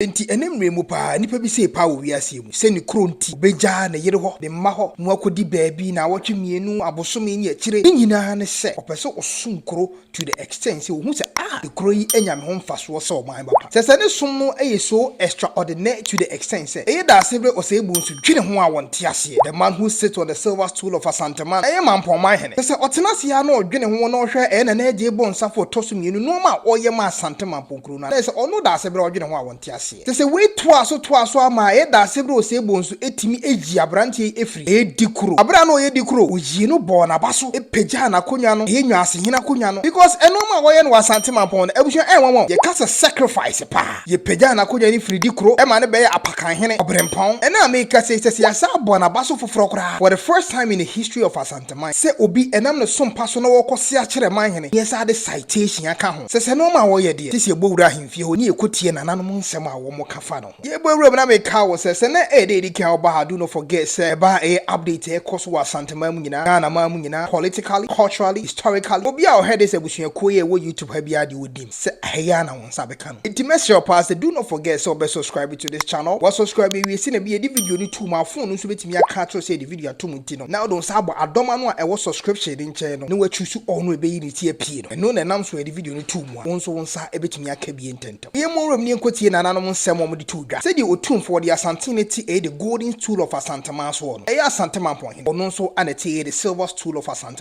Enti ɛnnɛ mmerɛ mu paa, nnipa bi sei paa wɔ wiaseɛ mu sɛ ne kuro nti ɔbɛgya ne yere hɔ, ne mma hɔ na wakɔdi baabi naawɔtwe mmienu, abosome ne akyire. Ne nyinaa ne sɛ ɔpɛ sɛ ɔsom kuro to the extent sɛ ɔhu sɛ ah ekuro yi anya me ho mfasoɔ sɛ ɔman ba pa. Sɛ sɛ ne som no yɛ so extraordinaire to the extent sɛ ɛyɛ dasene berɛ ɔsɛebuo nso dwene ho a wɔnte aseɛ. The man who sits on the silver stool of Asanteman, ɛyɛ Mampɔn man hene. Sɛ sɛ ɔtena ase ara na ɔdwene ho na ɔhwɛ ɛyɛ Nana Adjei Bonsah fo ɔtɔ so mmienu nnoɔma a ɔyɛ maa Asante Mampɔn kuro. kuro no anaasɛ ɔno daasebrɛ a ɔdwene ho a ɔnte aseɛ. Kyerɛ sɛ wei toaa so toaa so ara maa ɛyɛ daasebrɛ a osebɔ nso tumi yii aberanteɛ yi firii ɛyɛ dikuro. Aberɛ a na ɔyɛ dikuro, woyii no bɔɔ naba so pagyaa n'akonnwa no, ɛyɛ Nwaasehene akonnwa no because ɛnoɔma a wɔyɛ no wɔ Asante Mampɔn no abusua ɛnwanwa o, yɛka sɛ sacrifice paa. Yɛpagyaa n'akonnwa no firii dikuro ma no bɛyɛɛ Apakanhene, Ɔberempɔn. Ɛnnɛ a merekasa yi, kyerɛ sɛ yɛasan abɔ naba so foforɔ koraa for the first time in the history of Asante. te man. Sɛ obi, ɛnam ne som pa so na wɔkɔ sea kyerɛ man hene, nyɛ saa de citation aka ho. Sɛ sɛ nnoɔma a wɔyɛ deɛ, te sɛ yɛbɔ wura ahemfie hɔ, ne yɛkɔ tie nananom nsɛm a wɔn ka fa no ho. Yɛbɔ wuram na me ka wo sɛ, sɛ na ɛyɛ da ɛdi kan a wo ba ha, do not forget sɛ ɛba a ɛyɛ update a ɛkɔ so wɔ Asanteman mu nyinaa, Ghana man mu nyinaa, politically, culturally, historically, obi a ɔhɛ this abusuakuo yi a ɛwɔ YouTube ha biara deɛ ɔnim sɛ ɛha yi ara na wo nsa bɛka no. Nti mɛsrɛ wo paa sɛ do not forget sɛ wobɛ subscribe to this channel, wa subscribe awie sɛnea ɛbɛyɛ yɛde video no to mu a phone no nso bɛtumi aka akyerɛ wo sɛ yɛde video ato mu nti no na wode wo nsa abɔ adɔma no a ɛwɔ subscription no nkyɛn no na wa choose all no ɛbɛyi ne ti apie no ɛno na ɛnam so a yɛde video no to mu a wo nso wo nsa bɛtumi aka bie ntɛntɛm. Yɛmmɔ nwura mu na yɛnkɔtie nananom nsɛm a wɔde too dwa sɛdeɛ Otumfoɔ ɔde Asantee no ati ɛyɛ the golden stool of Asanteman soɔ no ɛyɛ Asantemampɔn hene ɔno nso ana ɛte ɛyɛ the silver stool of Asantemampɔn.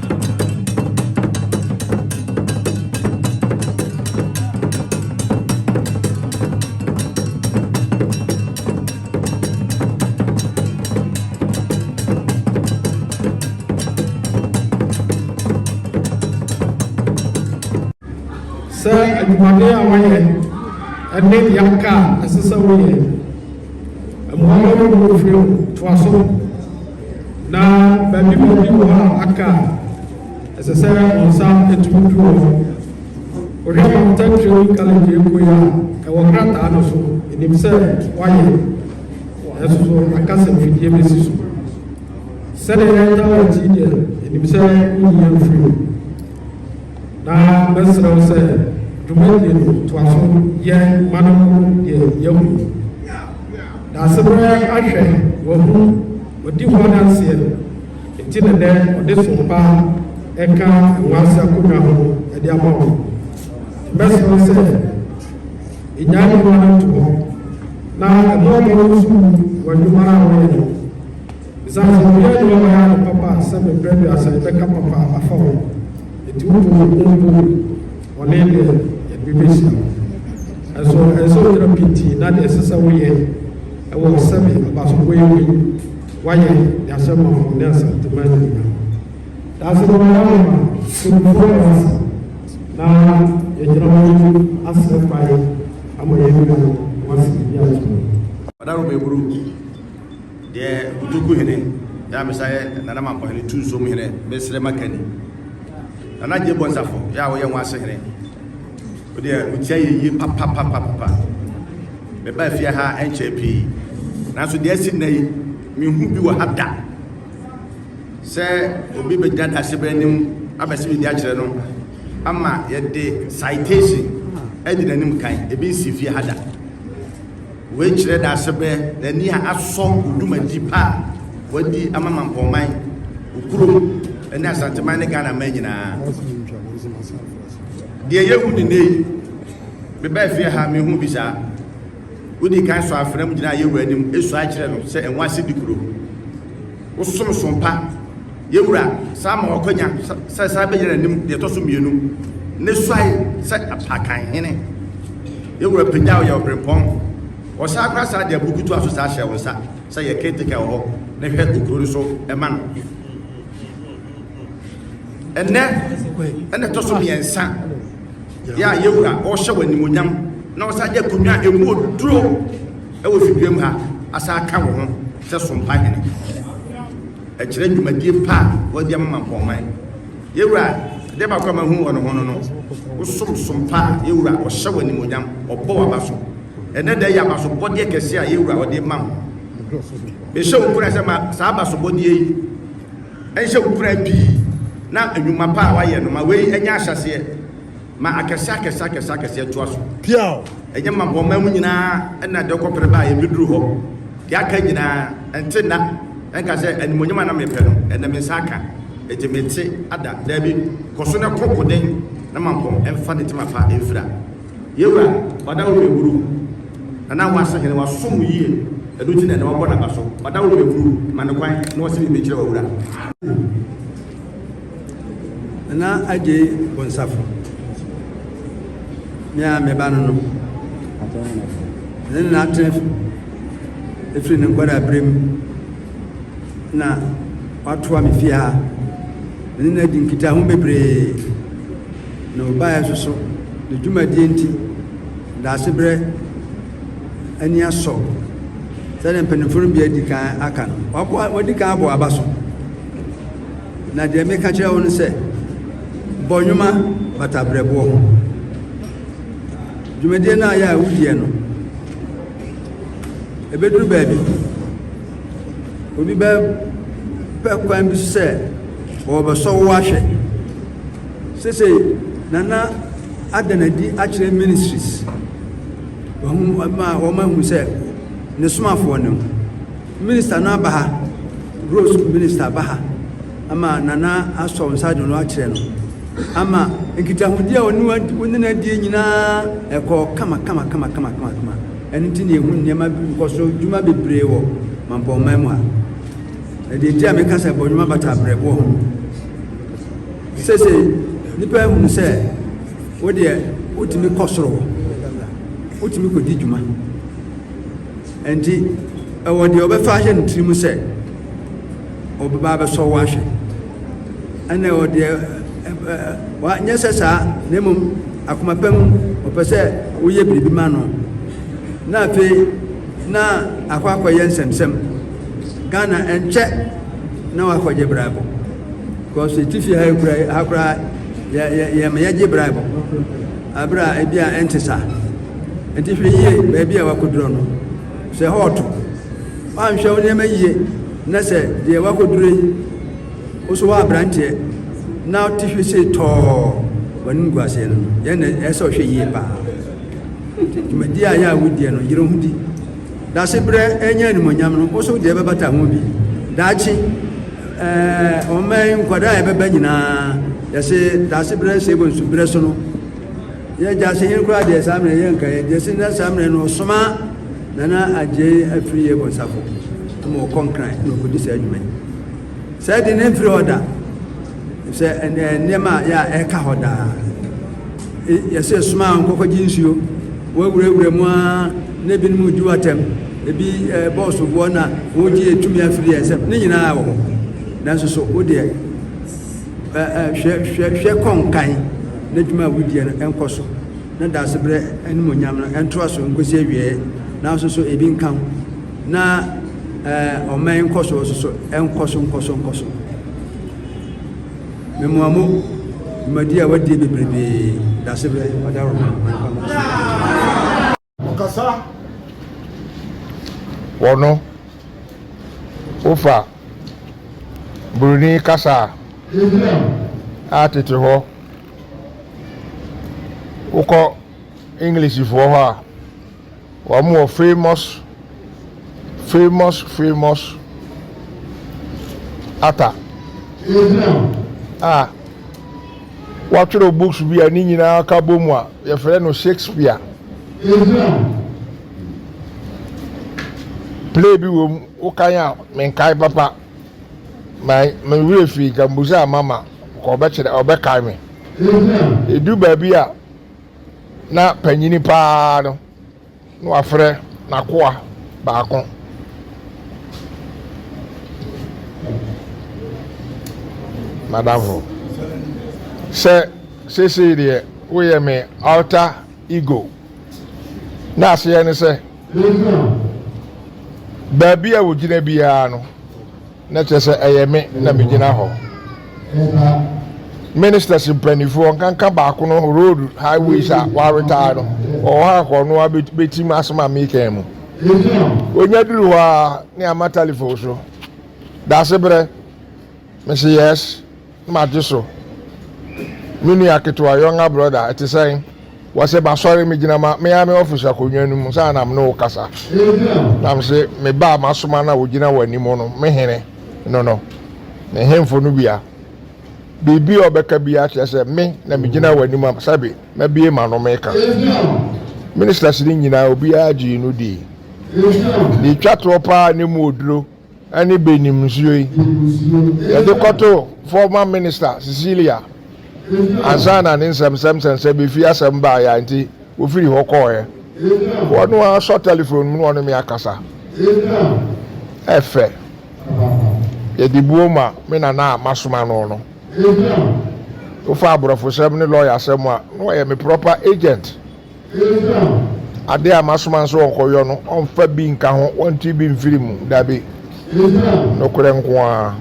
adwumaden a wɔyɛ ɛne yɛaka a ɛsɛ sɛ woyɛ mmoa no mu firi toa so Na baabi baabi wɔ hɔ a aka a ɛsɛ sɛ wɔn nsa tumi du hɔ. Wohwɛ Mountain Training College Ekoyi a ɛwɔ krataa no so, ɛnim sɛ wɔayɛ, nanso so aka sɛ mfidie bɛsi so. Sɛdeɛ yɛda wɔ akyi deɛ, ɛnim sɛ woyi yɛn firi mu. Na mɛsrɛ wo sɛ dwumadie no toa so yɛ ma no deɛ yɛahu. Dase koraa ahwɛ wahu ɔdi ho adanseɛ no nti na nɛ ɔde sompa ɛka nwaase akonnwa ho ɛde ama wo nti mɛsrɛ wo sɛ ɛnyae nnoɔma no nto hɔ na ɛmɔ mmɔden wo sukuu wɔ adwuma no a wɔyɛ no ɛsiane sɛ wɔyɛ adwuma ma yɛ ano papa sɛ mebrɛ duasa yɛbɛka papa afa ho nti wo bɔ wo ho mpo Bɔne deɛ, yɛde bi bɛhyira wo. Nanso ɛsɛ sɛ woyera pintinn na deɛ ɛsɛ sɛ woyɛ wɔ sɛbe abasofoɔ yi mu yi, woayɛ de ahyɛ manfo ne asantema animuonyam. Daase no wayɛ ama Tumfoɔ Ewase, na yɛgyina hɔ yi asrɛ kwae ama yɛn nua Ewase Biribi Akyere. Ɔdaro Beburu, deɛ Utoku hene, Nyamesa yɛ Nana Mampɔhene Tuusom hene, Mesrɛ Makani. Nana Gyei Bonsafo yɛ a woyɛ ho ase hene wodeɛ wotia yɛ yie papapapapa meba afie ha ɛnkyɛɛ pii nanso deɛ asi nnɛ yi mehu bi wɔ ha da sɛ obi bɛgyina dasebɛ anim abɛsɛ biribi akyerɛ no ama yɛde citation adi n'anim kan ebi nsi fie ha da Wei kyerɛ dasebɛ na ani a asɔ wɔ dwumadi pa a wɔadi ama Mampɔnman, Okurom ne Asanteman ne Ghana man nyinaa. Deɛ yɛhu ne nnɛ yi, mebaa fie ha a mehuu bi saa. Wodi kan sɔ afena mu gyinaa Yehowa anim sua kyerɛ no sɛ ɛho asedi kuro. Wo som som pa. Yɛn Wura, san ma w'akwanya sɛ san bɛgyina n'anim deɛ ɛtɔ so mmienu, ne suae sɛ Apakan Hene. Yɛn Wura, pagyaw yɛn ɔberempɔn. Wɔsan kora saa deɛ buku toa so saa hyɛ wo nsa sɛ yɛ caretaker wɔ hɔ na hwɛ okuro no so ma no. Ɛnɛ ɛna ɛtɔ so mmiɛnsa yɛ a yɛn Wura ɔrehyɛ w'animuonyam na ɔsan de akonnwa a ɛmu oduro Wɔ Figueroa mu ha, asan aka wo ho sɛ Sompa Hene. Ɛkyerɛ dwumadie pa a woadi ama Mampɔnman. Yɛn Wura, adeɛ baako a mahu wɔ ne ho no no, wosom Sompa a Yɛn Wura ɔhyɛ wo animuonyam, ɔbɔ w'abaso. Ɛnnɛ da yi abasobɔdeɛ kɛseɛ a Yɛn Wura ɔde rema wo. Mehyɛ wo nkuran sɛ ma saa abasobɔdeɛ yi nhyɛ wo nkuran pii na nnwuma pa a woayɛ no ma wei nyɛ ahyɛseɛ Ma akɛseɛ akɛseɛ akɛseɛ akɛseɛ toa so. Piaw! Ɛnyɛ mmapɔmma mu nyinaa na ɛde kɔ pere baa yɛn bɛduru hɔ. Deɛ aka nyinaa, ɛnte nna ɛnka sɛ, Animuonyam a na mepɛ no, ɛnnɛ me nsa aka, enti mete ada. Daabi, kɔ so na kɔ koden na mampɔn mfa ne tema pa mfira. Yɛn Wura, Ɔda wo mmɛburu, na na woase hene, wasom wo yie, ɛno nti na ɛnnɛ wabɔ n'aba so. Ɔda wo mmɛburu, ma no kwan na ɔse biribi nkyerɛ w'Awura. Nana Adjei Bonsafo, me a me ba no no, ne nana Atenefo, ɛfiri ne nkwadaa berɛ mu na watoa me fie ha. Me ne no adi nkitaho bebree na ɔbaeɛ nso so ne dwumadie nti daase berɛ ani asɔ sɛdeɛ mpanimfoɔ no bi adi kan aka no wadi kan abɔ aba so Na deɛ meka kyerɛ wo no sɛ, bɔ nnwoma bata berɛboɔ ho. Dwumadie no a yɛ a wodiɛ no, ɛbɛduru baabi, obi bɛpɛ kwan bi so sɛ wɔbɛsɔ wo ahwɛ. Sesei, Nana ada no adi akyerɛ ministries, wɔn ma wɔn ahu sɛ ne somafoɔ no. Minister no aba ha, Gross minister aba ha ama Nana asɔ nsa de no akyerɛ no ama nkitahodi a ɔne wo ne no adie nyinaa ɛkɔ kama kama kama kama kama kama ɛno nti ne ɛhu nneɛma nkɔso dwuma bebree wɔ mampɔnman mu a ɛdeɛ nti a meka sɛ bɔdwuma bata abrɛboɔ ho sese nipa ahunu sɛ wodeɛ wotumi kɔ soro wotumi kɔdi dwuma Enti, ɛwɔ deɛ ɔbɛfa ahyɛ ne tiri mu sɛ ɔbɛba abɛsɔ wo ahwɛ, ɛna ɛwɔ deɛ wanyɛ sɛ saa, na mmom akoma pa mu ɔpɛ sɛ woyɛ biribi ma no, na afei na akɔ akɔyɛ nsɛmsɛm Ghana ɛnkyɛ na wakɔgye braibo because ɛtifi ha kura ha koraa yɛ yɛ yɛma yɛgye braibo. bere a ebia ɛnte saa. Enti hwɛ yiye baabi a woakoduru no. Sɛ hɔ reto, woanhwɛ wo nneɛma yiye na sɛ deɛ woakoduru yi wo so woaberanteɛ na wote hwi se tɔɔ w'anim gu aseɛ no, yɛn na ɛsɛ sɛ ɔhwɛ yie paa. Nti dwumadi a yɛ a wodiɛ no, yere ho di. Dase berɛ ɛnyɛ animonyam no, wo so deɛ ɛbɛbata ho bi daakye. Eh, ɔmma yi nkwadaa a ɛbɛba nyinaa yɛse daase berɛ nsɛ bɔ nsu berɛ so no yɛ gyaase hene koraa deɛ saa mmerɛ yɛ nkaeɛ deɛ se na saa mmerɛ no ɔsoma nana agyei afiri yɛ bɔnsafo ma ɔkɔ nkran na ɔkɔdi saa adwuma yi saa di ne mfiri hɔ da sɛ nneɛma a yɛ a ɛka hɔ daa Yɛse soma wɔn nkɔkɔgye nsuo, wɔawurawura mu ara na ebinom redi wo atɛm, ebi bɔɔ soboɔ na wɔregye tumi afiri yɛn nsam, ne nyinaa wɔ hɔ. Nanso so wo deɛ hwɛ hwɛ hwɛ kɔ nkan na adwuma a wodie no ɛnkɔ so na daasebrɛ animuonyam no ɛntoa so nkɔsi awieɛ nanso so ebi nka ho na ɔman nkɔsoɔ so so ɛnkɔ so nkɔ so nkɔ so. Memoamo dwumadi a wadie bebrebee dase berɛ ɔda roma ma nipa ma so. Ɔkasa wɔ no wofa Broni kasa a tete hɔ wokɔ English foɔ hɔ a. Wɔn wɔ famous famous famous ata a wɔatwerɛ books bi a ne nyinaa ka bɔ mu a yɛfrɛ no Shakespeare. Play bi wɔ mu wokan a menkae papa me werɛ fii nka mbusa a mama ka ɔbɛkyerɛ ɔbɛkae me. Ɛdu baabi a na panyini paa no na wafrɛ n'akoa baako. Madamfo, sɛ seesei deɛ woyɛ me alter ego. Na aseɛ ne sɛ, baabi a wogyina biara no, Na kyerɛ sɛ ɛyɛ me na megyina hɔ. Ministers mpanyinfoɔ wɔnkanka baako no road highways a wɔaretire no wɔwɔ hɔ anka ɔno ara bɛtim asɛm a mekan mu. Wɔnya duru hɔ a ne ama telephone so. Daasebrɛ? Mese yes. Magye so. Me nua ketewa, younger brother, ɛte sɛn? Wɔse masɔre megyina ma me ara me office akonnwa no mu saa na me ne wo kasa. Na mese me ba a masoma no a ogyina w'anim no, me hene no no, ne hemfo no bia. Biribi a ɔbɛka biara kyerɛ sɛ me na megyina w'anim a sɛbe mabue m'ano meka. Ministers no nyinaa obiara gyee no dii. Deɛ ɛtwa toɔ paa ne mu oduro. ne benim nsuo yi yɛde kɔto former minister Cecilia ansa na ne nsɛmsɛmsɛmsɛm bɛfiri asɛm baeɛ a nti wɔfiri hɔ kɔɔɛ wɔno ara sɔ telephone mu na ɔne me akasa ɛfɛ yɛde buo ma me nana a masoma no no wofa aborɔfosɛm ne lɔyasɛm a na ɔyɛ me proper agent Ade a masoma no sɛ wɔnkɔyɔ no, wɔmfa bi nka ho, wɔnte bi mfiri mu, dabi, nokorɛ nko ara.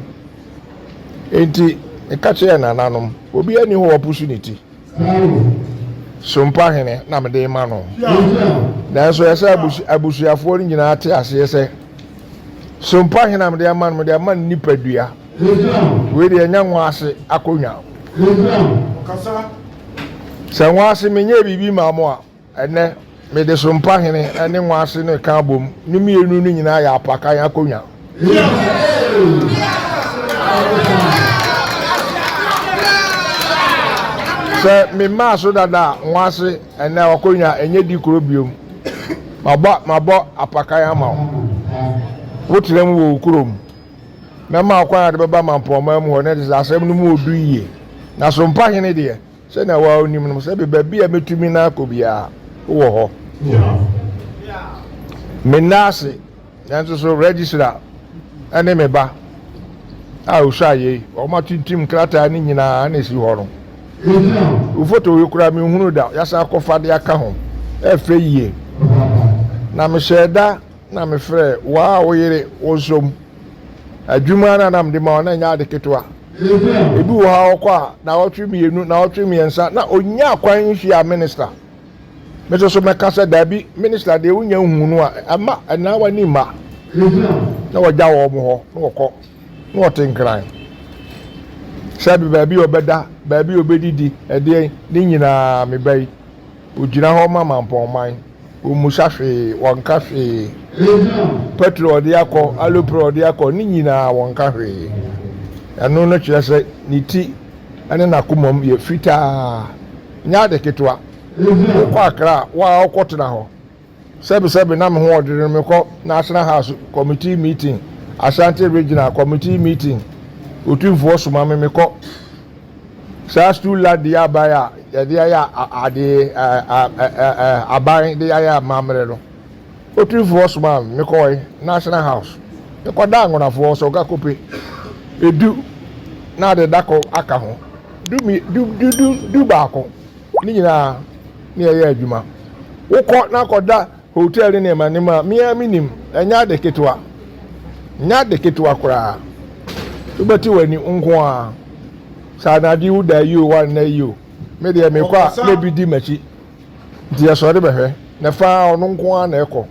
Enti meka kyerɛɛ nananom, Obiara nni hɔ a wapusu ne ti? Sompa hene na mede rema no. Nanso ɛsɛ sɛ abusuafoɔ no nyinaa te aseɛ sɛ, sompa hene a mede ama no, mede ama no nipadua. Wei deɛ nyɛ nwaase akonnwa Sɛ nwaase menyɛɛ biribi maa mo a, ɛnnɛ mede so mpa hene ne nwaase no reka abom, ne mmienu no nyinaa yɛ apakan akonnwa. Sɛ memaa so dada a, nwaase ɛnɛ akonnwa ɛnyɛ di koro biom. Mabɔ, mabɔ apakan ama wo. Wotena mu wɔ wo kurom. Mɛma wo kwan a wode bɛba mampɔnman mu hɔ, na ɛte sɛ asɛm no mu ɔdu yie. Na so mpa hene deɛ, sɛnea wo ara wonim no, sɛ me baabi a mɛtumi na akɔ biara, wowɔ hɔ? Menna ase, nanso so Registra ne me ba a ɔsua yei, wɔn atintim nkrataa no nyinaa na ɛsi hɔ no. Wo foto yi koraa menhunuu da, yɛasan akɔfa de aka ho. Ɛyɛ fɛ yie. Na mehyɛɛ da na mefrɛɛ wo a wo yere wosom adwuma na na mede ma wo na ɛnyɛ ade ketewa. Ebi wɔ hɔ a ɔkɔ a naawɔtwe mmienu, naawɔtwe mmiɛnsa na ɔnnya kwan nhyia minista. Me nso so mɛka sɛ dabi, minista deɛ wonya nhuu no a ɛmma ɛnna w'ani mma. Na wɔgya wɔn hɔ na wɔkɔ na wɔte nkran. Sɛbe baabi a ɔbɛda, baabi a ɔbɛdidi, ɛdeɛn, ne nyinaa meba yi. Ɔgyina hɔ ma mampɔnman. Ɔmmisa hwee, ɔnka hwee. Pɛtro a ɔde akɔ, alupre a ɔde akɔ, ne nyinaa ɔnka hwee. Ɛno no kyerɛ sɛ ne ti ne n'akomam yɛ fitaa. Ɛnyɛ ade ketewa. Wokɔ Accra a, wo ara wokɔtena hɔ. Sɛbesɛbe na me ho ɔdwe no mekɔ National House Committee meeting, Ashanti Regional Committee meeting otumfoɔ soma me mekɔ saa stool la di aban a yɛde ayɛ adeɛ aban de ayɛ amammerɛ no otumfoɔ soma me mekɔe National House mekɔda angonafoɔ sɛ ɔga kope edu na ade dako aka ho du du du du baako Ne nyinaa ne yɛyɛ adwuma. Wokɔ na kɔda hotel ne nneɛma nneɛma a me ara menim. Ɛnyɛ ade ketewa. Ɛnyɛ ade ketewa koraa. Wobɛte w'ani nko ara. Saa na ade wo da yi o, woanna yi o. Me deɛ mekɔ a na bi di m'akyi. Nti yɛsɔre bɛhwɛ. Na fa ara ɔno nko ara na ɛkɔ.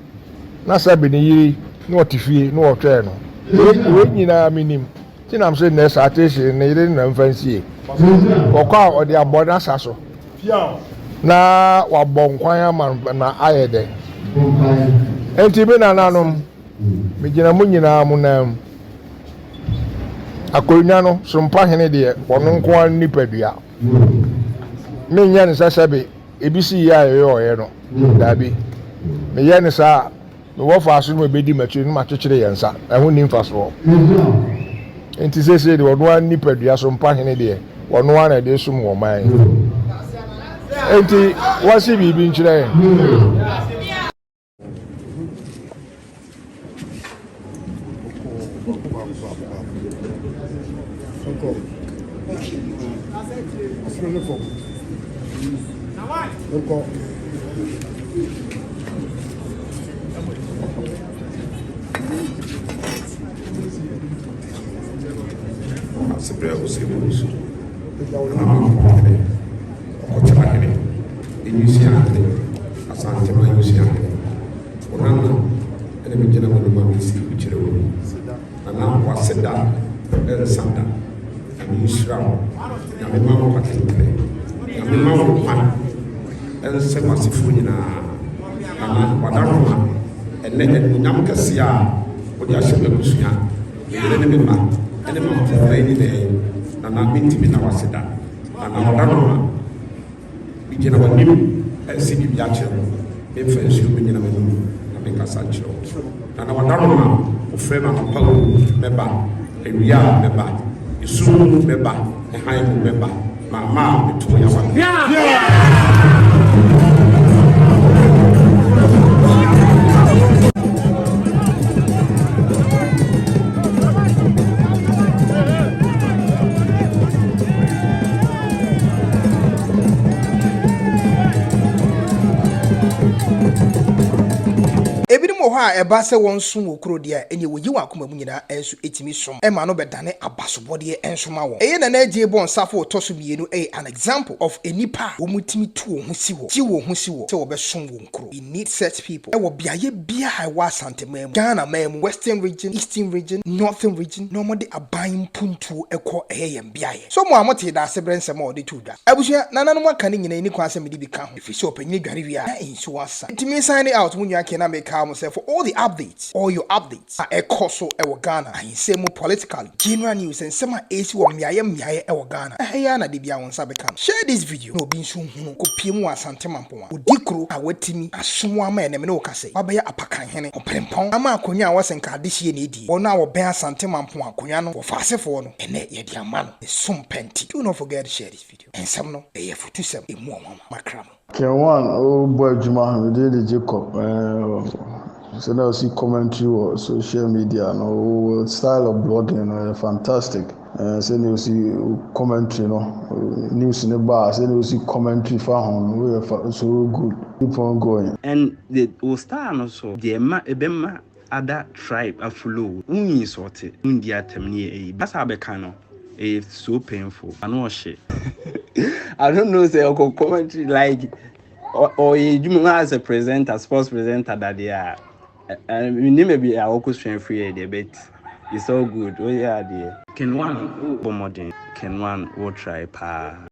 Na Sabi ne yere na ɔte fie na wɔtwɛn no. Wei nyinaa menim. Tsenam se nɛ saa Tese ne ne yere na mfa nsie kɔkɔ a ɔde abɔ n'asa so na wabɔ nkwan ama no na ayɛ dɛ. Enti me nananom, megyina mo nyinaa mo nan mu. Akonnwa no so mpahene deɛ ɔno nko ara ne nipadua. Menyɛ no sɛ sɛbe ebi si yɛ a yɛyɔɔeɛ no. Daabi. Meyɛ no saa a, Me wɔfaase no mu ɛbɛdi m'akyire no makyekyere yɛn nsa, ɛho nni mfasoɔ. Enti seesei deɛ ɔno ara ne nipadua so mpahene deɛ, ɔno ara na ɛde resom wɔ ɔman yi mu. Enti wɔnse biribi nkyerɛ yɛn. Nkɔ. Asebrɛ ɔsɛbi wɔ so. Ɛna ama kɔn ade. Ɔkɔkyerɛ ahene. Enyusi ahene. Asantema enyusi ahene. Wɔn ano ɛna megyina wɔn mu a mesi kyerɛ wɔn. Na na w'aseda rensa da. Nyame nhyira wo. Nyame ma wo atenpere. Nyame ma wo kwan nsɛ w'asefoɔ nyinaa. Nana Wadaroma, ɛnɛ animuonyam kɛseɛ a wode ahyɛ m'abusua, me yere ne me mma, ɛne mampɔn na ɛnyinɛɛ. Nana mentumi na w'aseda. Nana Wadaroma. Megyina w'anim resi biribi akyerɛ wo, memfa nsuo megyina w'anim na menkasa nkyerɛ wo. Na na wada no ma wofrɛ no anɔpa mu mɛba, awia a mɛba, esum mu mɛba, ne hann mu mɛba, mamma a meto yɛ awa. Ebinom wɔ hɔ a, ɛba sɛ wɔnsom wɔ kuro deɛ a, ɛnneɛ wɔyi wɔn akoma mu nyinaa nso tumi som ma no bɛdane abasobɔdeɛ nso ma wɔn. Ɛyɛ Nana Adjei bɔ nsafo a ɔtɔ so mmienu ɛyɛ an example of nnipa a wɔtumi tu wɔn ho si hɔ, gye wɔn ho si hɔ sɛ wɔbɛsom wɔn kuro. We need such people wɔ beaeɛ biara a ɛwɔ Asanteman mu, Ghana man mu, Western Region, Eastern Region, Northern Region, na wɔde aban mpuntuo kɔ, ɛyɛ yɛn pɛ. beaeɛ. So mo a motee Daasebrɛ nsɛm a wɔde too dwa, abusua, nananom aka no nyinaa nni kwan sɛ mede bi ka ho, ɛfiri sɛ ɔpanyini dware wie a, na nsuo asa. Enti me signing out mo nua Ken na mekae mo sɛ for all the updates, all your updates, a ɛkɔ so wɔ Ghana ahinsɛm mu politically, general news sɛ nsɛm a ɛresi wɔ mmeaeɛ mmeaeɛ wɔ Ghana ha yi ara na da biara wo nsa bɛka no. Share this video na obi nso nhunu. Kɔpue mu wɔ Asante Mampong a ɔdi kuro a watumi aso mu ama ɛnnɛ me ne wo ka sɛ wabɛyɛ apakan hene, ɔpirempɔn, ama akonnwa a ɛwɔ sɛ nka adehyeɛ na ɛdi. pii. Wɔn a wɔbɛn Asante Mampong akonwa no wɔ Faasefoɔ no, ɛnnɛ yɛde ama no. Ne som pɛ nti. Do not forget share this video. Nsɛm no, ɛyɛ afutusɛm. Ɛmu ɔnwanwa. Makra mo. Ken Wan o bɔ adwuma me din de Jacob eh sɛ na ɔsi commentary wɔ social media no wo style of blogging no yɛ fantastic eh sɛ na ɔsi commentary no news ne ba a sɛ na ɔsi commentary fa ho no wo yɛ so good keep on going. And the wo style no so deɛ ɛma ɛbɛma ada tribe afuloo wo insɔɔte wo ndi atɛm ne yɛ eyi basa bɛka no ɛyɛ so painful ano ɔhye I don't know sɛ ɔkɔ commentary like ɔyɛ edwuma mu as a presenter sports presenter dadeɛ a menim baabi a ɔkɔ sua firi yɛ deɛ but it's all good woyɛ adeɛ. Ken one wo bɔ mmɔden. Ken one wo try paa.